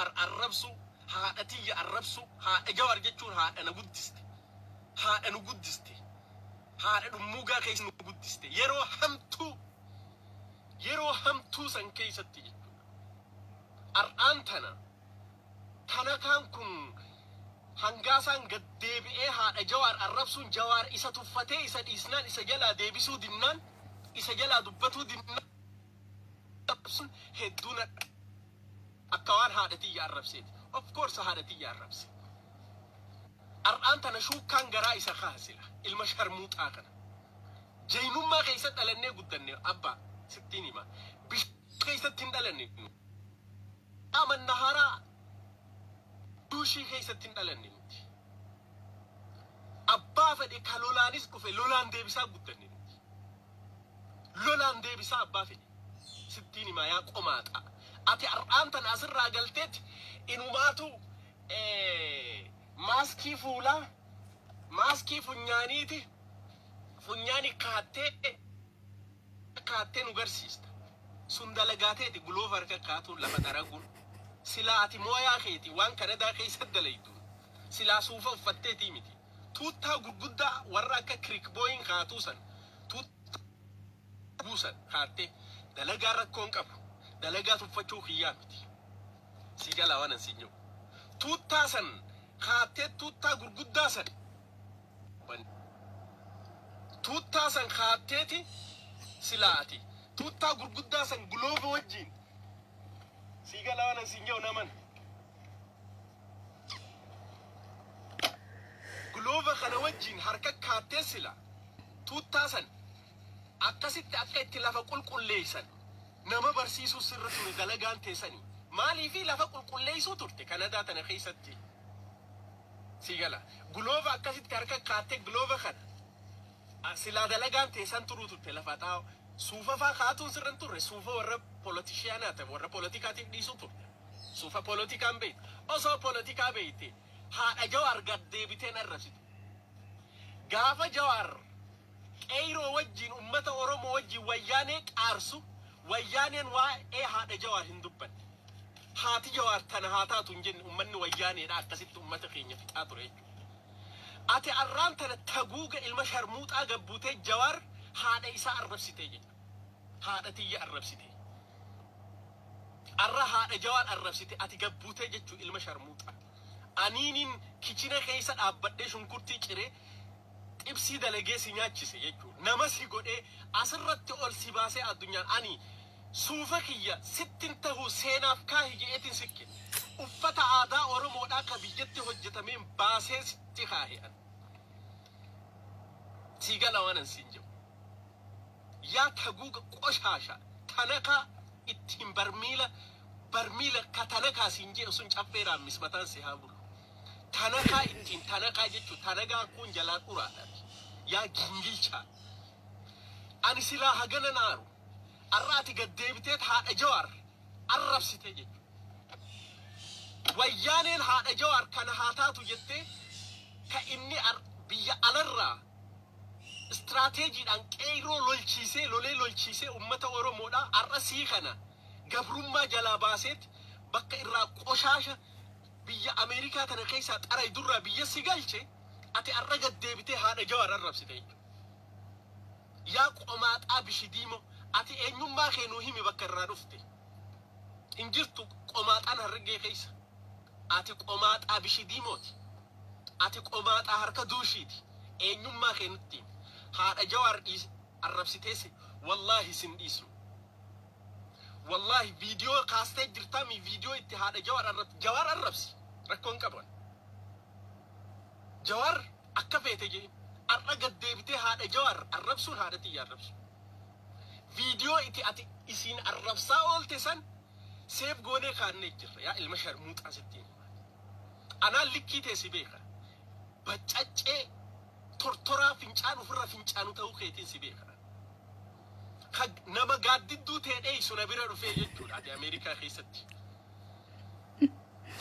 Ar arrabsuu haadha tiyya arrabsuu haadha jawar jechuun haadha na guddiste haadha nu guddiste haadha dhummuugaa keessa nu guddiste yeroo hamtuu yeroo hamtuu san keessatti jechuudha ar'aan tana tanakaan kun hangaasaan gad deebi'ee haadha jawaar arrabsuun jawaar isa tuffatee isa dhiisnaan isa jalaa deebisuu dinnaan isa jalaa dubbatuu dinnaan arrabsuun hedduu na dhabe. Akka waan haadha tiyya arrabseeti. Of course haadha tiyya arrabse. Har'aan tana shuukkaan garaa isa kaha sila. Ilma sharmuuxaa kana. Jaynummaa keessa dhalannee guddanne abbaa sittiin hima. Bishaan keessatti hin dhalanne. Amanna haraa duushii keessatti hin dhalanne nuti. Abbaa fedhe ka lolaanis dhufe lolaan deebisaa guddanne nuti. Lolaan deebisaa abbaa fedhi. Sittiin himaa yaa qomaaxaa. Ati har'aan tana asirraa galteet inumaatu maaskii fuulaa, maaskii funyaaniiti funyaani kaattee kaattee nu garsiista. Sun dalagaa teeti guloofa harka kaatuun lafa xaraguun. Silaa ati mooyaa keeti waan Kanadaa keessa dalayduun. Silaa suufa uffatteetii miti. Tuuttaa gurguddaa warra akka Kirikbooyiin kaatuu san tuuttaa guu san kaattee dalagaa rakkoon qabu dalagaa tuffachuu kiyyaa miti. Sii galaa waan an siin jedhu. Tuuttaa san kaattee tuuttaa gurguddaa san bani. Tuuttaa san kaatteeti silaa ati tuuttaa gurguddaa san gulooba wajjiin sii galaa waan an siin jedhu naman. Glove kana wajjin harka kaattee sila tuuttaa san akkasitti akka itti lafa qulqulleessan nama barsiisuu sirra ture dalagaan teessanii maaliifi lafa qulqulleessuu turte kanadaa tana keessatti si gala glove akkasitti harka kaattee glove kana a- silaa dalagaan teessan turuu turte lafa xaa'oo suufafaa kaatuun sirra hin turre suufa warra polotishiyaanaa ta'e warra politikaatiif dhiisuu turte. Sufa polotika hin beektu. Osoo polotikaa beekte haadha Jawaar gad deebitee hin arrabsitu. Gaafa Jawaar qeeyroo wajjiin ummata Oromoo wajjiin wayyaanee qaarsu wayyaaneen waa'ee haadha Jawaar hin dubbanne. Haati Jawaar tana haa taatu hin jenne ummanni wayyaaneedha akkasitti ummata keenya fixaa ture jechuudha. Ati arraan tana taguuga ilma sharmuuxaa gad buutee Jawaar haadha isaa arrabsitee jechuudha. Haadha tiyya arrabsitee. Arra haadha jawaar arrabsite ati gad butee jechu ilma sharmuuxa anii nin kichina keessa dhaabbadhee shunkurtii ciree xibsii dalagee si nyaachise jechu nama si godhee asirratti ol si baasee addunyaan ani suufa kiyya sittin tahuu seenaaf kaahi je'eetin si kenne uffata aadaa oromoodhaa ka biyyatti hojjatameen baasee sitti kaahe ani sii gala waanan siin je'u. yaa taguuga qoshaasha tanakaa ittiin barmiila barmiila ka tanakaa siin jeen sun caffee raammis mataan si haa bulu tanakaa ittiin tanakaa jechu tanagaa kuun jalaa dhuraa dhabi yaa gingilchaa ani silaa hagana naaru arra ati gad deebiteet haadha jawaar arrabsite jechu wayyaaneen haadha jawaar kana haa taatu jettee ka inni ar- biyya alarraa Istiraateejiidhaan Qeeyroo lolchiisee lolee lolchiisee ummata Oromoodha har'a sii kana gabrummaa jalaa baaseet bakka irraa qoshaasha biyya Ameerikaa tana keessaa xaraydurraa biyya si galche ati har'a gad deebitee haadha Jawaar arrabsita jechuudha. Yaa qomaaxaa bishidiimoo ati eenyummaa kee nuu himi bakka irraa dhufte. Hin jirtu qomaaxaan Harargee keessa. Ati qomaaxaa bishidiimooti. Ati qomaaxaa harka duushiiti eenyummaa kee nutti himi haadha jawaar dhiisi arrabsitee si wallaahi sin dhiisnu wallaahi viidiyoo kaastee jirtaa mii viidiyoo itti haadha jawaar arrabsi jawaar arrabsi rakkoo hin qaban jawaar akka feete jee arra gad deebitee haadha jawaar arrabsuun haadha tiyya arrabsu viidiyoo itti ati isiin arrabsaa oolte san seef goonee kaannee jirra yaa ilma sharmuuxaa sittiin Anaan likkii tee si beeka. Baccaccee tortoraa fincaan ofirra fincaanu ta'uu keetiin si beeka. Ka nama gaaddidduu tee dheeysu na bira dhufee jechuudha ati Ameerikaa keessatti.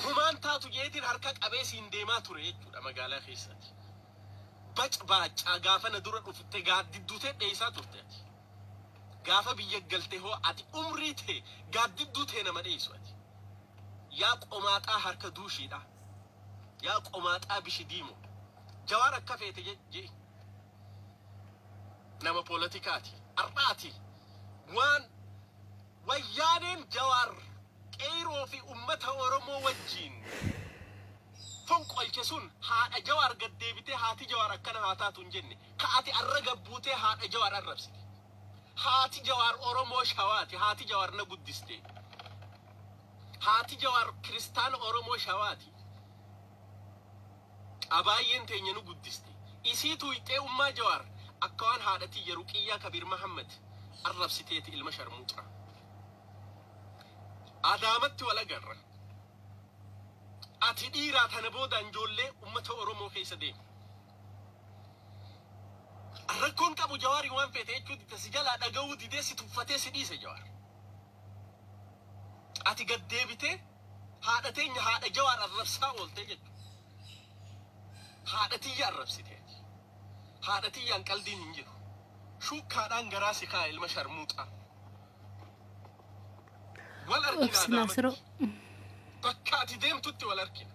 Humaan taatu jeetiin harka qabee siin deemaa ture jechuudha magaalaa keessatti. Bac baaccaa gaafa na dura dhufte gaaddidduu tee dheeysaa turte ati. Gaafa biyya galte hoo ati umrii tee gaaddidduu tee nama dheeysu ati. Yaa qomaaxaa harka duushiidhaa. Yaa qomaaxaa bishi diimo. Jawaar akka feete je, je'i. Nama poolotikaati. Har'a ati waan wayyaaneen Jawaar qeeyroo fi ummata Oromoo wajjiin fonqolche sun haadha Jawaar gad deebitee haati Jawaar akkana haa taatu hin jenne. Ka ati arra gabbuutee haadha jawaar arrabsite. Haati jawaar oromoo shawaati haati jawaar na guddiste. Haati jawaar kiristaana oromoo shawaati. Abaayyeen teenya nu guddiste. Isii tuuyxee ummaa jawaar akka waan haadha tiyya ruqiyyaa kabiir mahammad arrabsiteeti ilma sharmuuxaa. Adaamatti wal agarra. Ati dhiiraa tana boodaan joollee ummata oromoo keessa deemi. Rakkoon qabu jawaari waan feete jechuu didde si jalaa dhaga'uu didee si tuffatee si dhiise jawaar. Ati gad deebitee haadha teenya haadha jawaar arrabsaa ooltee jechuudha. Haadha tiyya arrabsite ati. Haadha tiyyaan qaldiin hin jiru. Shuukkaadhaan garaa si kaa'a ilma sharmuuxaa. Wal arginaa Obsi daamatti. Naasiroo. Bakka ati deemtutti wal argina.